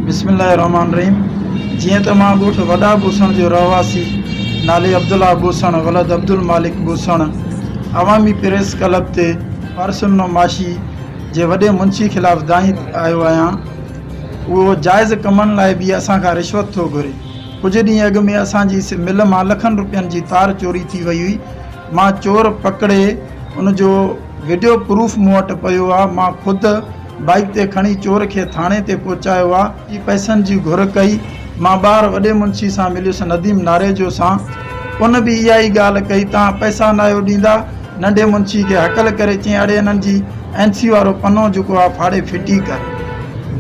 بسم الله الرحمٰن الرحيم جيئن ته مان ڳوٺ وڏا بوسڻ جو رهواسي نالي عبدالله بوسڻ ولد عبدالمالڪ بوسڻ عوامي پريس ڪلب تي پارسن نعماشي جي وڏي منشي خلاف دانهين آيو آهيان اهو جائز ڪمن لاء به اسان کان رشوت ٿو گهري ڪجهه ڏينهن اڳ ۾ اسان جي مل مان لکن روپين جي تار چوري ٿي وئي هئي مان چور پڪڙي ان جو وڊيو پروف مون وٽ پيو آهي مان خود بائيڪ تي کڻي چور کي ٿاڻي تي پهچايو آ ۽ پئسن جي گهر ڪئي مان ٻاهر وڏي منشي سان مليس نديم ناريجو سان ان به اها ئي ڳالهه ڪئي توهان پئسا ناهيو ڏيندا ننڍي منشي کي هڪل ڪري چيائين اڙي انهن جي اين سي وارو پنو جيڪو آ ڦاڙي ڦٽي ڪر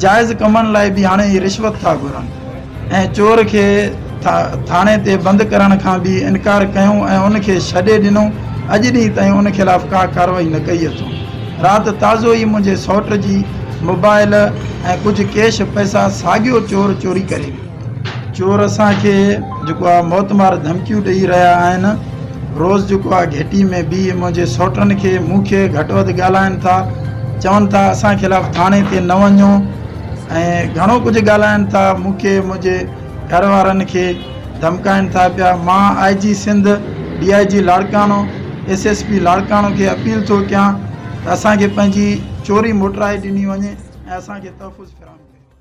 جائز ڪمن لاء به هاڻي اهي رشوت ٿا گهرن. ۽ چور کي ٿاڻي تي بند ڪرڻ کان به انڪار ڪيو ۽ ان کي ڇڏي ڏنو، اڄ ڏينهن تائين ان خلاف ڪا ڪارروائي نه ڪئي اٿئون، رات تازو ئي منهنجي سئوٽ جي موبائل ۽ ڪجهه ڪيش پئسا ساڳيو چور چوري ڪري ويو. چور اسان کي جيڪو آ موتمار ڌمڪيون ڏئي رهيا آهن، روز جيڪو آ گهٽي ۾ بيهي منهنجي سئوٽن کي مون کي گهٽ وڌ ڳالهائن ٿا، چون ٿا اسان خلاف ٿاڻي تي نه وڃو، ۽ گهڻو ڪجهه ڳالهائن ٿا مون کي منهنجي گهر وارن کي ڌمڪائن ٿا پيا مان I G Sindh D I G Larkana S S P Larkana کي اپيل ٿو ڪيان ته اسان کي پنهنجي چوري موٽرائي ڏني وڃي ۽ اسان کي تحفظ فراهم ڪيو وڃي